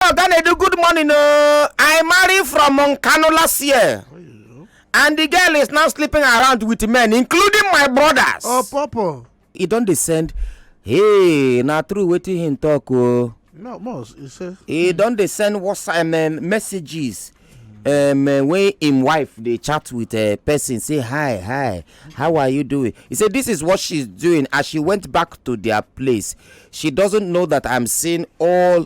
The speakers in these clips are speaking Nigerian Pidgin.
Oga Nedu, good morning. Uh, I married from Moncano last year. And the girl is now sleeping around with men, including my brothers. Oh, Papa. He don't descend. Hey, na true wetin him talk o. Oh. No, most, he say. He don dey send WhatsApp um, messages um, uh, when him wife dey chat with a uh, person say hi hi how are you doing he say this is what she's doing as she went back to their place she doesn't know that i'm seeing all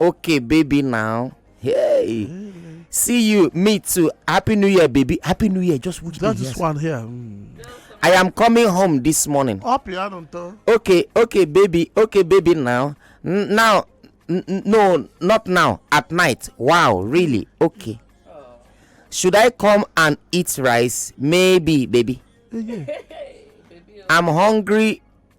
okay baby now hey see you me too happy new year baby happy new year just which that is one here mm. i am coming home this morning up here okay okay baby okay baby now N now no not now at night wow really okay should i come and eat rice maybe baby i'm hungry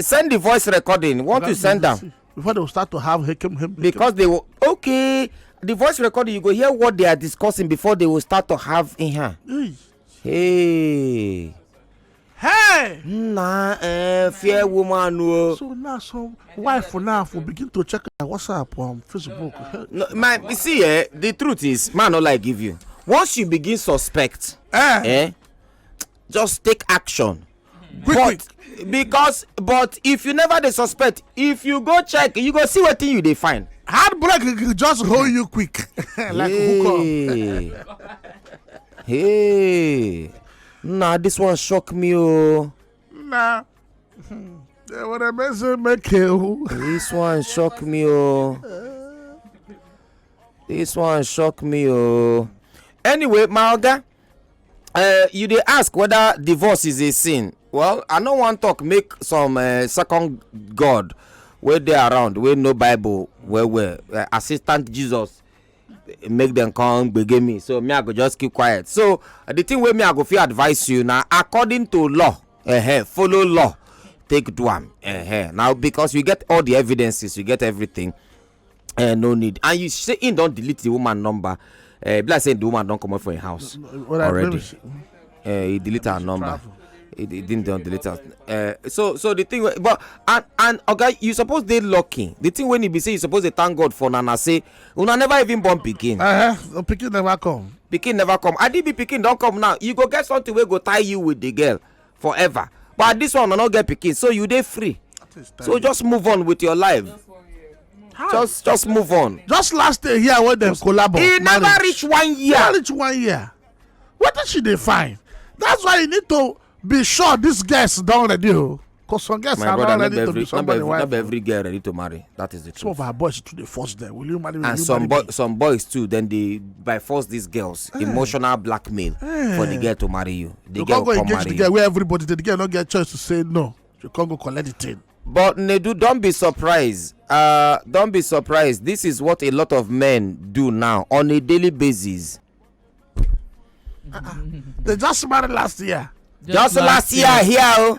send the voice recording once you send am before they start to have hekem hem because they will okay the voice recording you go hear what they are discussing before they will start to have in here hey hey na eh fair woman o oh. so now some wife now for begin to check her whatsapp on facebook no my you see eh the truth is man no lie give you once you begin suspect eh, eh just take action quick quick but because but if you never dey suspect if you go check you go see wetin you dey find hard break just hold you quick like hey. hook up hey nah this one shock me o oh. nah they would have been so make this one shock me o oh. this one shock me o oh. anyway my oga Uh, you dey ask whether divorce is a sin well i no wan talk make some uh, second god wey dey around wey know bible well well uh, assistant jesus make dem come gbege me so me i go just keep quiet so uh, the thing wey me i go fit advise you na according to law uh -huh, follow law take do am uh -huh. now because you get all the evidences you get everything eh, no need and you say he don't delete the woman number uh, be like say the woman don't come up for your house no, no, well, already uh, he delete her number travel. he, he didn't don delete her uh, so so the thing but and and okay, you suppose they lucky the thing when he be say you suppose they thank god for nana say una never even born pikin. Uh -huh. pikin never come. pikin never come adibi pikin don't come now you go get something where go tie you with the girl forever but at this one una no get pikin so you dey free so just move on with your life just just move on just last day here when dem collabo e never reach one year never reach one year wetin she dey find that's why you need to be sure these girls don ready o oh. cause some girls are not ready to be somebody wife not be every girl ready to marry that is the truth some of our boys too dey force them will you marry me and some boy some boys too then dey by force these girls eh. emotional blackmail eh. for the girl to marry you the you girl come go engage the girl where everybody the girl no get choice to say no you come go collect the thing. but nedu don be surprised uh, don be surprised this is what a lot of men do now on a daily basis. Uh-uh. they just married last year. just, just last, last year, year here o. Oh.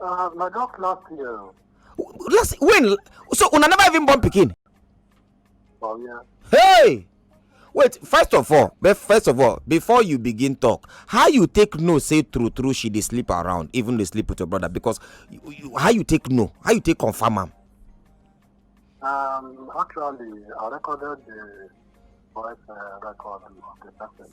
Uh, my dog last year. Last when? So una never even born pikin. Oh yeah. Hey! Wait, first of all, first of all, before you begin talk, how you take no say true true she dey sleep around, even dey sleep with your brother because you, you, how you take no, how you take confirm am. Um, actually, I recorded the voice uh, record with the person.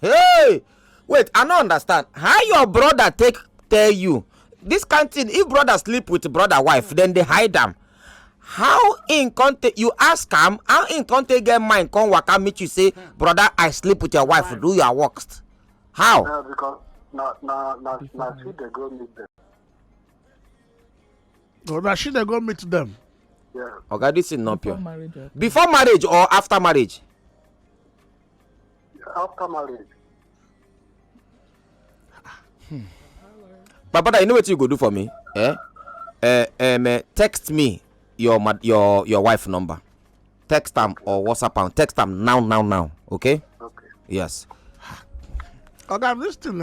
hey wait i no understand how your brother take tell you this kind thing if brother sleep with brother wife then they hide them. how in come you ask am how in come take get mind come waka meet you say brother i sleep with your wife do your work how. na na na na na she dey go meet them. No, na she dey go meet them. Yeah. Oga, this is not pure. Before marriage or, Before marriage or after marriage? After marriage. Hmm. But brother, you know what you go do for me? Eh? Uh, um, uh, text me your your your wife number. Text them or WhatsApp them. Text them now, now, now. Okay? Okay. Yes. Oga, this thing.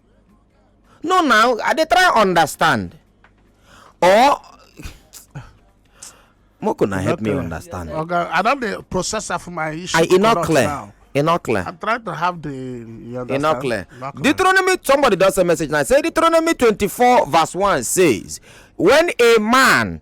no now i dey try understand or moko na help me understand oga i don dey process am for my issue e no clear e no clear i'm trying to have the you understand e no clear deuteronomy somebody don send message now say deuteronomy twenty-four verse one says when a man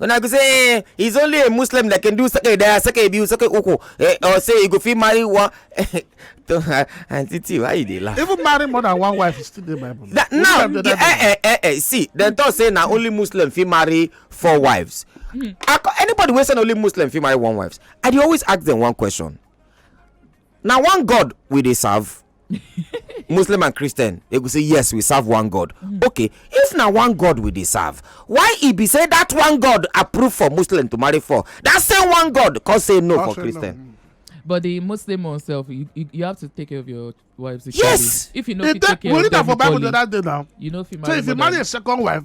una go say eh he's only a muslim that can do sake daya sake biyu sake uku eh, or say he go fit marry one aunty t why you dey laugh. even marry more than one wife still dey bible. na now eh, eh eh eh see dem talk say na only muslim fit marry four wives hmm. anybody wey say na only muslim fit marry one wife i dey always ask dem one question na one god we dey serve muslim and christian they go say yes we serve one god mm. okay if na one god we dey serve why e be say that one god approve for muslim to marry for that same one god come say no for christian but the muslim oneself you, you, you have to take care of your wife securely yes if you no fit take care of them equally you no fit marry so if you marry a second wife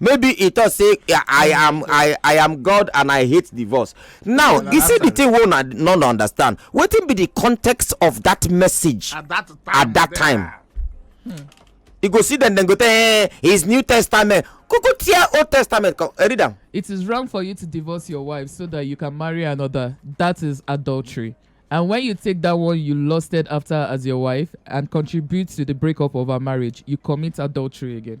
maybe he talk say i am i i am god and i hate divorce now you see the thing wey una no understand wetin be the context of that message at that time at that time hmm. you go see dem dem go tell eh his new testament kuku tear old testament come eh, read am. it is wrong for you to divorce your wife so that you can marry another that is adultery and when you take that one you lusted after as your wife and contribute to the breakup of her marriage you commit adultery again.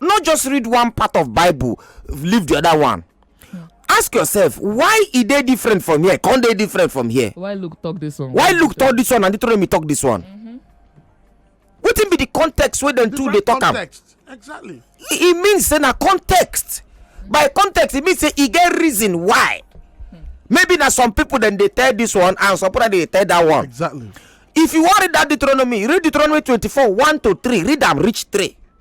no just read one part of bible leave the other one ask yourself why e dey different from here con dey different from here why luke talk this one why luke talk this one and deuteronomy talk this one mm-hmm. wetin be the context wey dem two dey talk am exactly e mean say na context by context e mean say e get reason why hmm. maybe na some people dem dey tell this one and some people dey tell that one exactly if you wan read that deuteronomy read deuteronomy twenty-four one to three read am reach three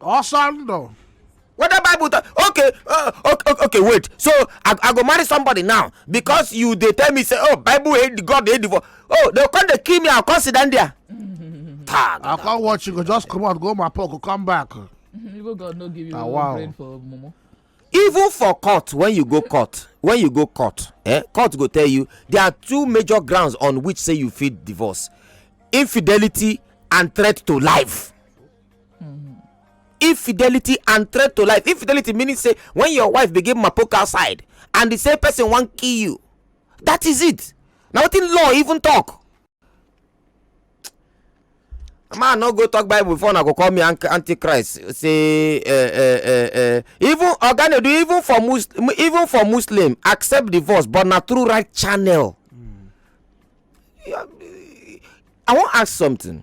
ọsọ ndụ whether bible talk okay uh, okay okay, okay wait so I, i go marry somebody now because you dey tell me say oh bible hate the god hate the for oh they come dey kill me i come sit down there. Tag. i come watch you go just comot go my pocket come back Even God no give you Ah, wow. brain for mumu. even for court when you go court when you go court eh, court go tell you there are two major grounds on which say you fit divorce infidelity and threat to life infidelity and threat to life infidelity meaning say when your wife begin mapoke outside and the same person wan kill you that is it na wetin law even talk man no go talk bible before una go call me antichrist say uh, uh, uh, uh, even oganedu even for muslim even for muslim accept divorce but na through right channel mm. i wan ask something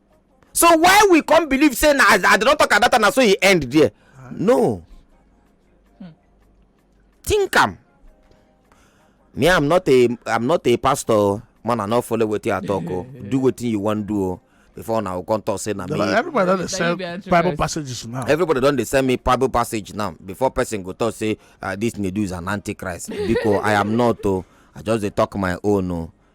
so why we come believe say na as i don talk about am na so e end there no think am me i'm not a i'm not a pastor man i no follow wetin i talk o do wetin you wan do o before una go come talk say na me everybody don dey sell bible passages now everybody don dey sell me bible passage now before person go talk say ah, this nedu is an antichrist because i am not o i just dey talk my own o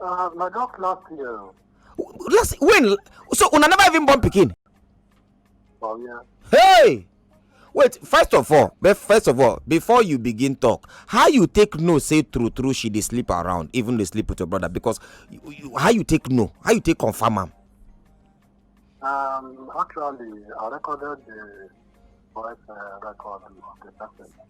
Uh, my dog last year. Last when? So una never even born pikin. Oh yeah. Hey. Wait, first of all, first of all, before you begin talk, how you take no say true true she dey sleep around, even dey sleep with your brother because you, you, how you take no, how you take confirm am. Um, actually, I recorded the voice uh, record with the person.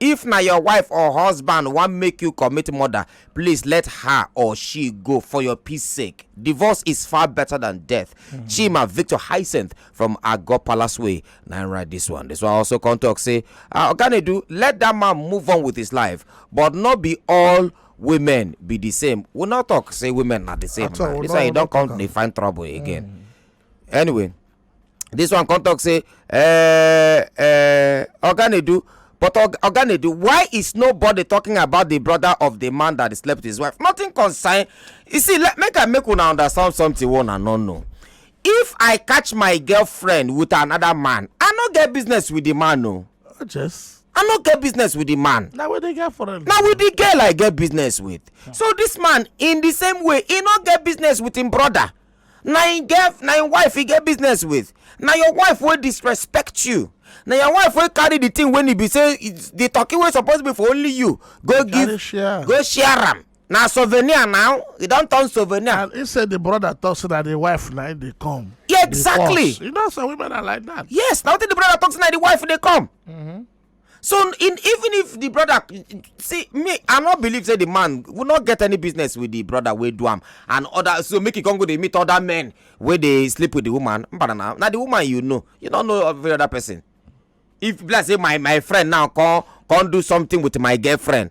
If na your wife or husband wan make you commit murder, please let her or she go for your peace sake. Divorce is far better than death. Mm-hmm. Chima Victor Hyacinth from Ago Palace Way. Now write this one. This one also come talk say, uh, do let that man move on with his life, but not be all women be the same we not talk say women are the same man this why you don't come dey find trouble again mm. anyway this one come talk say eh, eh, oga nedu but oga nedu why is nobody talking about the brother of the man that slept with his wife nothing concern you see let make i make una understand something one and no know if i catch my girlfriend with another man i no get business with the man o oh, just i no get business with the man na with the girl for na with the girl i get business with so this man in the same way he no get business with him brother na im get na im wife he get business with na your wife wey disrespect you na your wife wey carry the thing wey e be say the turkey wey suppose be for only you go give go share am na souvenir now e don turn souvenir. and he say the brother talk say na the wife na dey come. Yeah, exactly you know some women are like that. yes na wetin the brother talk say na the wife dey come. Mm -hmm. so in, even if the brother see me i no believe say the man will not get any business with the brother wey do am and other so make e come go dey meet other men wey dey sleep with the woman mbana na na the woman you know you no know every other person if be like say my my friend now come come do something with my girlfriend